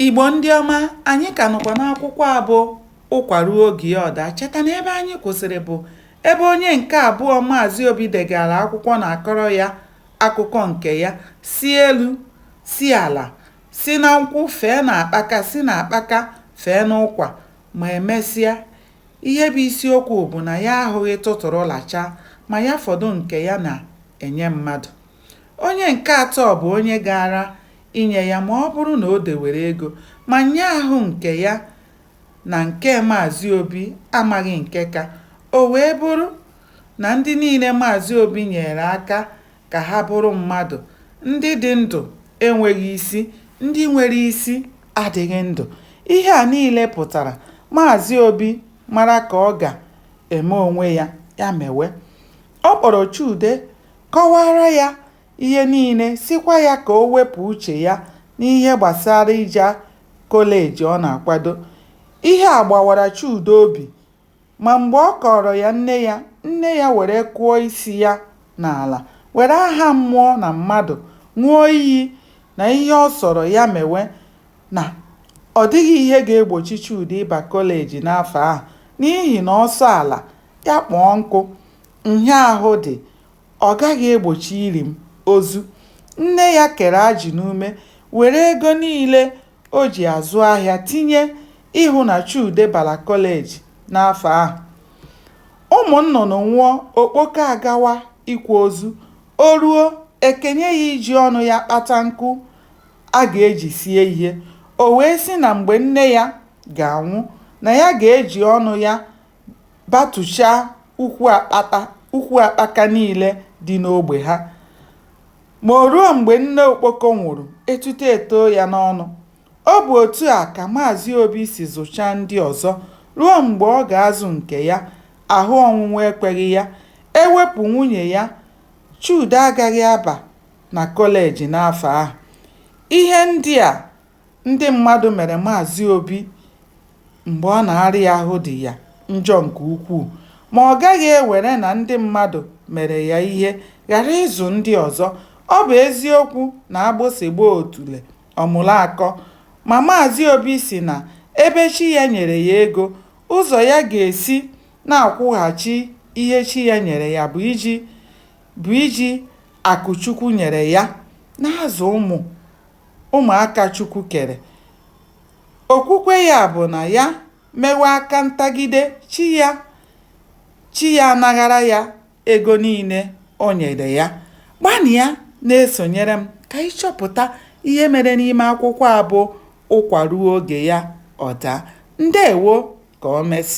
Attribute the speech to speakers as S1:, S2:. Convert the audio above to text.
S1: Igbo ndị ọma, anyị ka nọkwa n'akwụkwọ a bụ Ụkwa ruo oge ya ọ daa. Cheta na ebe anyị kwụsịrị bụ ebe onye nke abụọ Maazị Obi degara akwụkwọ na-akọrọ ya akụkọ nke ya, si elu, si ala, si na nkwụ fee na akpaka, si na akpaka fee n'ụkwa, ma emesịa, ihe bụ isiokwu bụ na ya ahụghị tụtụrụ lacha, ma ya fọdụ nke ya na-enye mmadụ. Onye nke atọ bụ onye gaara inye ya ma ọ bụrụ na o dewere ego ma onye ahụ nke ya na nke Maazị Obi amaghị nke ka, o wee bụrụ na ndị niile Maazị Obi nyeere aka ka ha bụrụ mmadụ, ndị dị ndụ enweghị isi, ndị nwere isi adịghị ndụ. Ihe a niile pụtara Maazị Obi mara ka ọ ga-eme onwe ya, ya mewe. Ọ kpọrọ Chude kọwaara ya ihe niile, sịkwa ya ka o wepụ uche ya n'ihe gbasara ije kọleji ọ na-akwado. Ihe a gbawara Chude obi, ma mgbe ọ kọọrọ ya nne ya, nne ya were kụọ isi ya n'ala, were aha mmụọ na mmadụ ṅụọ iyi na ihe ọ sọrọ ya mewe, na ọ dịghị ihe ga-egbochi Chude ịba kọleji n'afọ ahụ n'ihi na ọ sọ ala, ya kpọọ nkụ, nhịaahụ dị. Ọ gaghị egbochi ili m ozu. Nne ya kere ajị n'ume were ego niile o ji azụ ahịa tinye ịhụ na Chude bara kọleji n'afọ ahụ. Ụmụ nnụnụ nwụọ, okpoko agawa ịkwa ozu. O ruo, e kenye ya iji ọnụ ya kpata nkụ a ga-eji sie ihe. O wee sị na mgbe nne ya ga-anwụ, na ya ga-eji ọnụ ya batụchaa ukwu akpaka niile dị n'ogbe ha. Ma o ruo mgbe nne okpoko nwụrụ, etuto etoo ya n'ọnụ. Ọ bụ otu a ka Maazị Obi si zụchaa ndị ọzọ ruo mgbe ọ ga-azụ nke ya, ahụ ọnwụnwụ ekweghị ya. E wepụ nwunye ya, Chude agaghị aba na kọleji n'afọ ahụ. Ihe ndị a Ndị mmadụ mere Maazị Obi mgbe ọ na-arịa ahụ dị ya njọ nke ukwuu, ma ọ gaghị ewere na ndị mmadụ mere ya ihe ghara ịzụ ndị ọzọ. Ọ bụ eziokwu na agbụsị gbaa otule, ọ mụrụ akọ, ma Maazị Obi sị na ebe chi ya nyere ya ego, ụzọ ya ga-esi na-akwụghachi ihe chi ya nyere ya bụ iji akụ Chukwu nyere ya na-azụ ụmụ. ụmụaka Chukwu kere. Okwukwe ya bụ na ya mewe aka ntagide, chi chi ya anaghara ya ego niile o nyere ya. Gbanịa na-esonyere m ka anyị chọpụta ihe mere n'ime akwụkwọ a bụ Ụkwa ruo oge ya ọ daa. Ndeewo! Ka o mesịa.